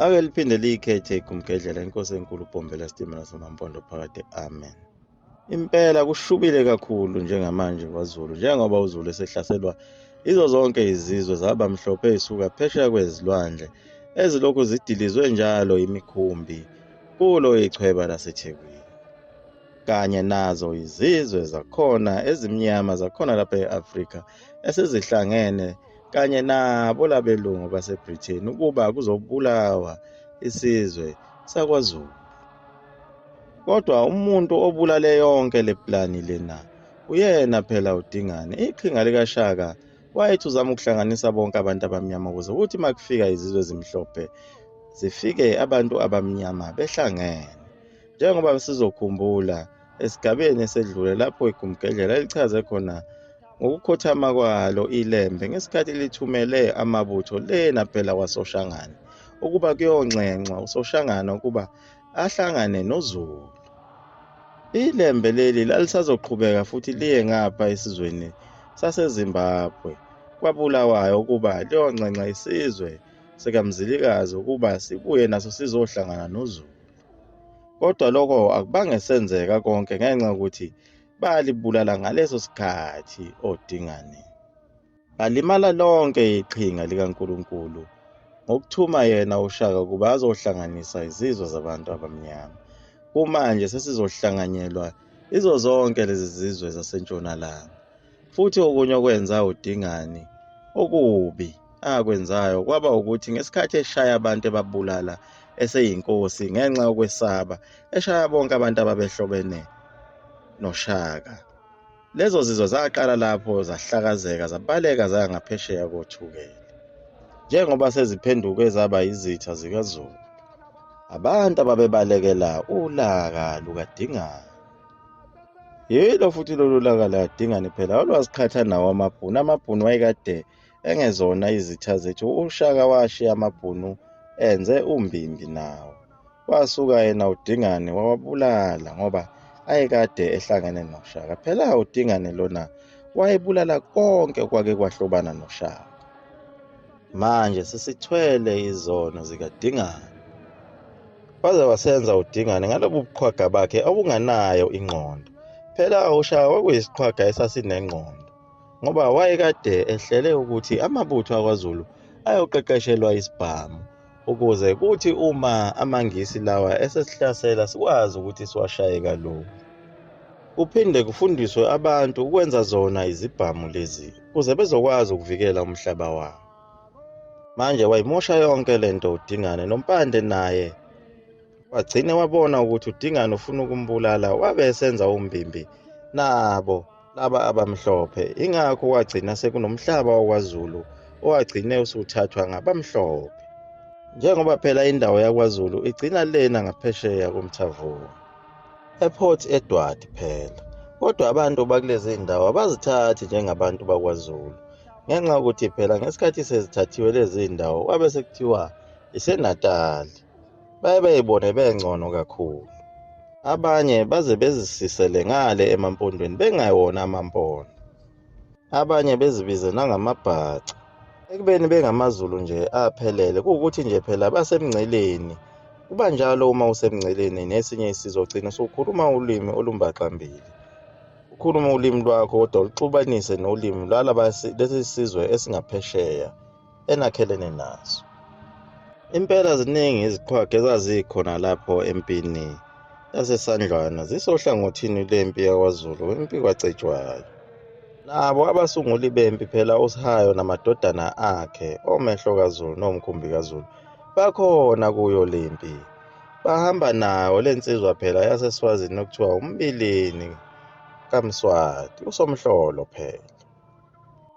ake liphinde liyikhethe igumgedlela inkosi enkulu ubhombela sitimela samampondo phakade amen impela kushubile kakhulu njengamanje kwazulu njengoba uzulu esehlaselwa izo zonke izizwe zaba mhlophe isuka phesheya kwezilwandle ezilokhu zidilizwe njalo imikhumbi kulo ichweba lasethekwini kanye nazo izizwe zakhona ezimnyama zakhona lapha e-afrika esezihlangene kanye nabo labelungu baseBritain ukuba kuzobulawa isizwe sakwaZulu. Kodwa umuntu obulale yonke le plani lena uyena phela uDingane. Iqhinga likaShaka wayethi uzama ukuhlanganisa bonke abantu abamnyama ukuze kuthi uma kufika izizwe ezimhlophe zifike abantu abamnyama behlangene. Njengoba sizokhumbula esigabeni esedlule lapho igumgedlela elichaze khona ngokukhothama kwalo ilembe ngesikhathi lithumele amabutho lena phela kwasoshangane ukuba kuyonxenxwa usoshangane ukuba ahlangane nozulu ilembe leli lalisazoqhubeka futhi liye ngapha esizweni sasezimbabwe kwabulawayo ukuba liyonxenxa isizwe sikamzilikazi ukuba sibuye naso sizohlangana nozulu Kodwa lokho akubange senzeka konke ngenxa yokuthi balibulala ngaleso sikhathi odingane. Ngalimala lonke iqhinga likaNkulunkulu ngokuthuma yena uShaka ukuba azohlanganisa izizwe zabantu abamnyama. Kumanje sesizohlanganyelwa izo zonke lezi zizwe zasentshonalanga. Futhi okunye okwenza uDingane okubi akwenzayo kwaba ukuthi ngesikhathi eshaya abantu ebabulala eseyinkosi ngenxa yokwesaba eshaya bonke abantu ababehlobene noShaka. Lezo zizwe zaqala lapho zahlakazeka zabaleka zaya ngaphesheya kothukela. Njengoba seziphenduke zaba izitha zikaZulu, abantu ababebalekela ulaka lukaDingane. yilo futhi lolu laka ladingani phela olwaziqhatha nawo amabhunu amabhunu wayekade engezona izitha zethu ushaka washiya amabhunu enze umbimbi nawo wasuka yena udingane wawabulala ngoba ayekade ehlangene noshaka phela udingane lona wayebulala konke kwake kwahlobana noshaka Manje sesithwele izono zikaDingane. Waze wasenza uDingane ngalobu buqhwaga bakhe obunganayo ingqondo. Phela awushawa kuyisiqhwaga esasinengqondo ngoba wayekade ehlele ukuthi amabutho akwaZulu ayoqeqeshelwa isibhamu. ukuze kuthi uma amaNgisi lawa esesihlasela sikwazi ukuthi siwashaye kalula. Kuphinde kufundiswe abantu ukwenza zona izibhamu lezi ukuze bezokwazi ukuvikela umhlaba wabo. Manje wayimosha yonke le nto uDingane noMpande naye wagcine wabona ukuthi udingani ufuna ukumbulala wabe esenza umbimbi nabo laba abamhlophe ingakho wagcina sekunomhlaba wakwazulu owagcine usuthathwa ngabamhlophe njengoba phela indawo yakwazulu igcina lena ngaphesheya komthavuko eport edward phela kodwa abantu bakulezi ndawo abazithathi njengabantu bakwazulu ngenxa yokuthi phela ngesikhathi sezithathiwe lezi ndawo kwabe sekuthiwa isenatali baye bayibone bengcono kakhulu abanye baze bezisisele ngale emampondweni bengayona amampondo abanye bezibize nangamabhaca ekubeni bengamazulu nje aphelele kuwukuthi nje phela basemngceleni kuba njalo uma usemngceleni nesinye isizwe ugcina usukhuluma ulimi olumbaxambili ukhulume ulimi lwakho kodwa uluxubanise nolimi lwalaba lesi sizwe esingaphesheya enakhelene nazo impela ziningi iziqhwaga ezazikhona lapho empini yasesandlwana zisohlangothini lempi yakwazulu kwempi kwacetshwayo nabo abasunguli bempi phela usihayo namadodana akhe omehlo kazulu nomkhumbi kazulu bakhona kuyo lempi bahamba nawo le nsizwa phela yaseswazini okuthiwa umbilini kamswati usomhlolo phela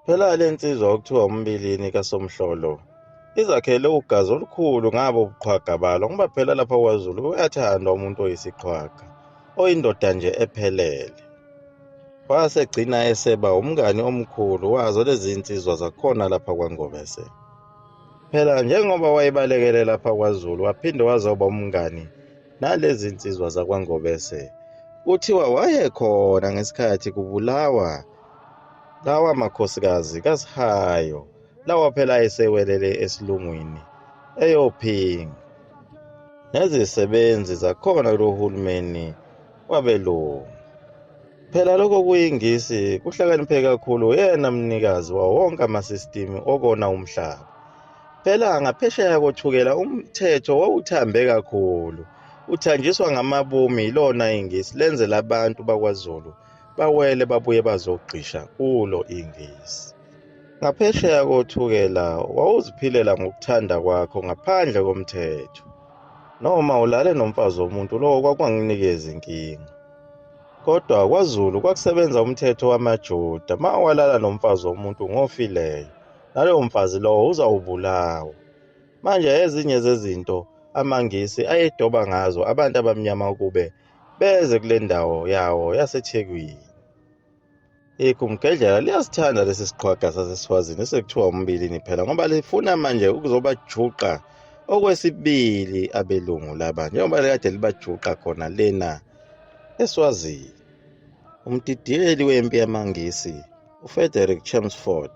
Phela le nsizwa okuthiwa umbilini kaSomhlolo izakhele ugazi olukhulu ngabo buqhwaga balo ngoba phela lapha kwaZulu uyathandwa umuntu oyisiqhwaga oyindoda nje ephelele wasegcina eseba umngani omkhulu wazo lezi nsizwa zakhona lapha kwaNgobese phela njengoba wayebalekele lapha kwaZulu waphinde wazoba umngani nalezi nsizwa zakwaNgobese kuthiwa wayekhona ngesikhathi kubulawa lawa makhosikazi kasihayo lawa phela ayesewelele esilungwini eyophinga nezisebenzi zakhona kulo hulumeni wabelungu phela lokho kuyingisi kuhlakaniphe kakhulu yena mnikazi wawo wonke amasistimu okona umhlaba phela ngaphesheya kothukela umthetho wawuthambe kakhulu uthanjiswa ngamabomu yilona ingisi lenzela abantu bakwazulu bawele babuye bazogqisha kulo ingisi ngaphesheya kothukela wawuziphilela ngokuthanda kwakho ngaphandle komthetho noma ulale nomfazi womuntu lowo kwakunganginikezi inkinga kodwa kwazulu kwakusebenza umthetho wamajuda ma walala nomfazi womuntu ngofileyo nalowo mfazi lowo uzawubulawa manje ezinye zezinto amangisi ayedoba ngazo abantu abamnyama ukube beze kule ndawo yawo yasethekwini igumgedlela liyasithanda lesi siqhwaga sasesifazini esekuthiwa umbilini phela ngoba lifuna manje ukuzobajuqa okwesibili abelungu laba njengoba likade libajuqa khona lena eswazini umdidiyeli wempi yamangisi ufrederick chamsford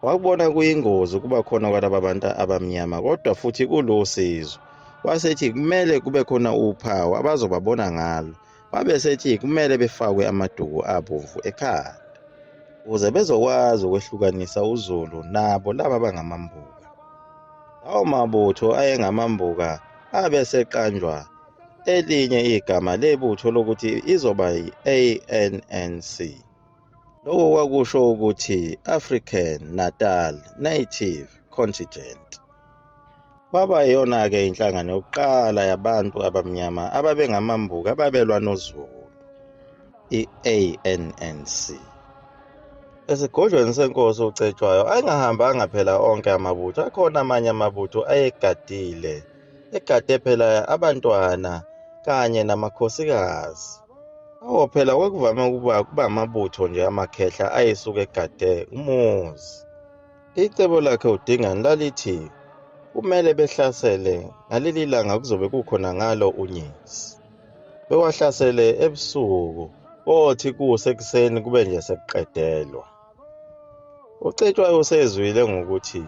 wakubona kuyingozi ukuba khona kwalaba bantu abamnyama kodwa futhi kulusizo wasethi kumele kube khona uphawu abazobabona ngalo wabe sethi kumele befakwe amaduku abomvu ekhanda ukuze bezokwazi ukwehlukanisa uzulu nabo laba bangamambuka lawo mabutho ayengamambuka abe seqanjwa elinye igama lebutho lokuthi izoba yi-ANNC. Lokho kwakusho ukuthi African Natal Native Contingent kwaba yiyona-ke inhlangano yokuqala yabantu abamnyama ababengamambuka ababelwa noZulu i-ANNC. Esigodlweni senkosi uCetshwayo ayengahambanga phela onke amabutho, akhona amanye amabutho ayegadile, egade phela abantwana kanye namakhosikazi. Awo phela kwakuvame ukuba kuba amabutho nje amakhehla ayesuke egade umuzi. Icebo lakhe uDingane lalithi kumele behlasele ngaleli langa kuzobe kukhona ngalo unyezi. Bewahlasele ebusuku, kothi kusekuseni kube nje sekuqedelwa. ucetshwayo usezwile ngokuthi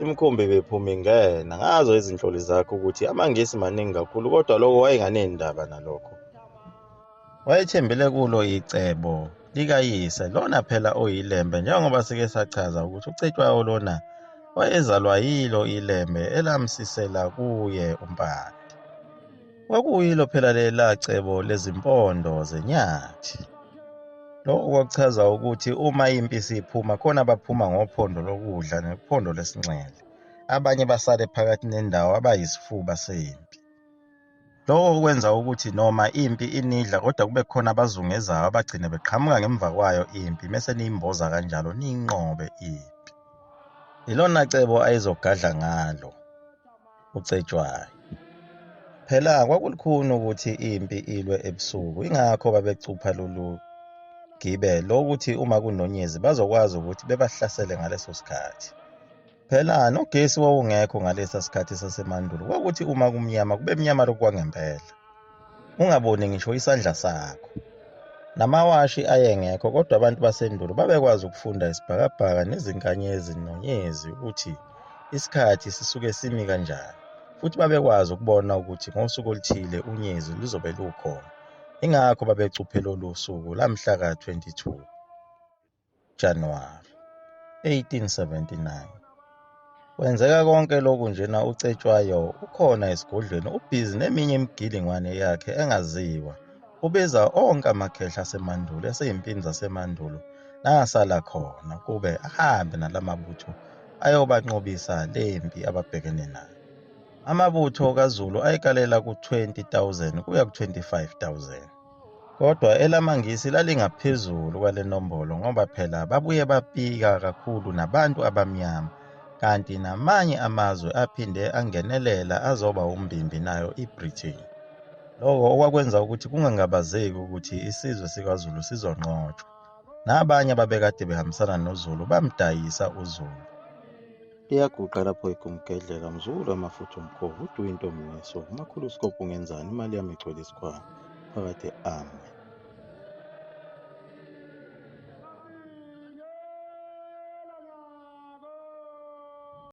imikhumbi bephuma ingena ngazo izinhloli zakho ukuthi amangisi maningi kakhulu kodwa lokho wayenganendaba nalokho wayethembele kulo icebo likayise lona phela oyilembe njengoba sike sachaza ukuthi ucetshwayo lona wayezalwa yilo ilembe elamsisela kuye umpande Kwakuyilo phela lela cebo lezimpondo zenyathi. Lokho kwakuchaza ukuthi uma impi isiphuma khona abaphuma ngophondo lokudla nephondo lesinxele. Abanye basale phakathi nendawo abayisifuba sempi. Lokho kwenza ukuthi noma impi inidla kodwa kube khona abazungezayo abagcine beqhamuka ngemva kwayo impi mese niyimboza kanjalo niyinqobe impi. Yilona cebo ayezogadla ngalo. uCetshwayo. Phela kwakulikhuni ukuthi impi ilwe ebusuku, ingakho babecupha lolu gibe lokuthi uma kunonyezi bazokwazi ukuthi bebahlasele ngaleso sikhathi. Phela nogesi wawungekho ngalesa sikhathi sasemandulo, kwakuthi uma kumnyama kube mnyama lokhu kwangempela. ungaboni ngisho isandla sakho namawashi ayengekho kodwa abantu basendulo babekwazi ukufunda isibhakabhaka nezinkanyezi nonyezi ukuthi isikhathi sisuke simi kanjani futhi babekwazi ukubona ukuthi ngosuku oluthile unyezi luzobe lukhona ingakho babecuphe lolu suku lamhla ka-22 January 1879. Kwenzeka konke lokhu njena uCetshwayo ukhona esigodlweni ubhizi neminye imigilingwane yakhe engaziwa. Ubiza onke amakhehla asemandulo eseyimpini zasemandulo nangasala khona kube ahambe nalamabutho ayobanqobisa lempi ababhekene nayo. Amabutho kaZulu ayekalela ku-20,000 kuya ku-25,000. kodwa elamaNgisi lalingaphezulu kwale nombolo ngoba phela babuye bapika kakhulu nabantu abamnyama kanti namanye amazwe aphinde angenelela azoba umbimbi nayo iBritain. Lokho okwakwenza ukuthi kungangabazeki ukuthi isizwe sikaZulu sizonqotshwa. Nabanye ababekade behambisana noZulu bamdayisa uZulu. Iyaguqa lapho igumgedleka mzukulu amafutha umkhovu uduwe intombi ngeso umakhulu usikophu ngenzani imali yami igcwele isikhwama phakade ami